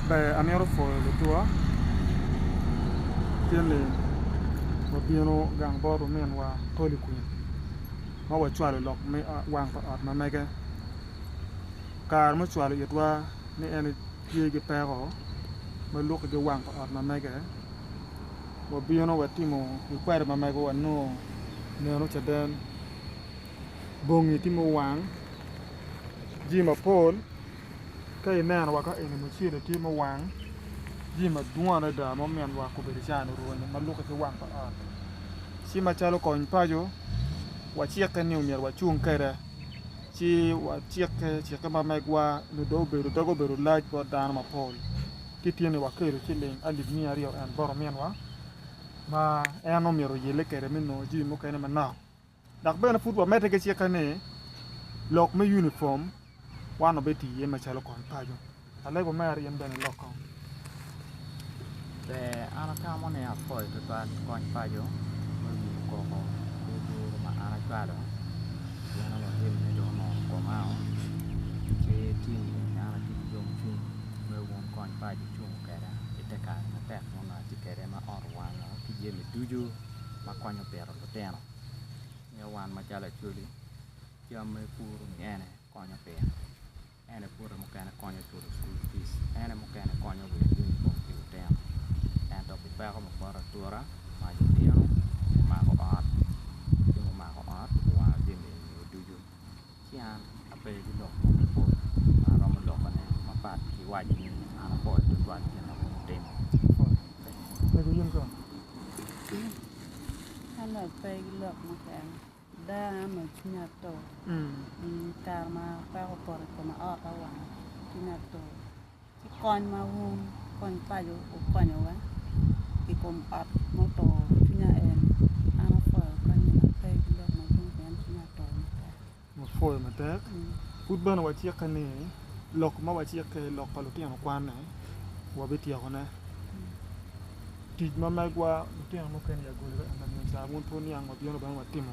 Ber amito pwoyo lutua tye ni wabino gang bot ominwa Holy Queen ma wacwalo lok me wang pa ot ma mege kare me cwalo itwa ni en tye ki peko ma lwaki ki wang pa ot ma mege wabino watimo ikweta ma mege wa nongo neno caden bongi tye muwang jami mapol Ka ineno wa ka eni mucele tye ma owang jami madwong adada ma omyero wa obedo cani orwenyo ma lukke ki wang pa ot ci macalo kony paco wacikke ni omyero wacung kwede ci wacikke cikke ma megwa nyo dong obedo doge obedo lac bot dano mapol ci tye ni wakelo ciling alip miya aryo en bot ominwa ma en omyero oyelle kwede me nongo jami mukene manok. Dok bene pud wamedde ki cikke ni, Lok me unifom wan obed tii iye macalo kony paco. Alego mere in bene ilok kong. Ber, an atamo ni apoyo tutwal ki kony paco me wiyo koko ki duru ma an acwalo pien onongo tim ne dong onongo okomao ki tim ni an atye ki yom cwiny me wun kony paco cungo kweda ite kare matek nongo atye kwede ma ot owanga ki jami ducu ma konyo pito lutino nyo wan macalo Acholi jami ma ipuro ni ene konyo pire ene pute mukene konyo culu cukul pic ene mukene konyo weko unifom pi lutino ento pi peko me poto atura mac obino omako ot ci mumako ot owango jami enini ducu Ci an ape giloko mo me pol ma aromo lokone mapat ki waco ni an apol tutwal gin awobi otimo. Mego in kong? An ape pe gilok mukene. Ada an cwinya atur. I kare ma apeko opoto i koma ot awang cwinya atur. ki kony ma wun kony paco wukonyowa i kom ot muturo cwinya en, an apwoyo kony ma pe ki lok madwong pien cwinya otur matek. Wapwoyo matek. Pud bene wacikke ni lok ma wacikke i lok pa lutino kwanne wabityekone. Tic ma megwa lutino mukene i agolagi ema miyo cawa wun pud niang wabino bene watimo.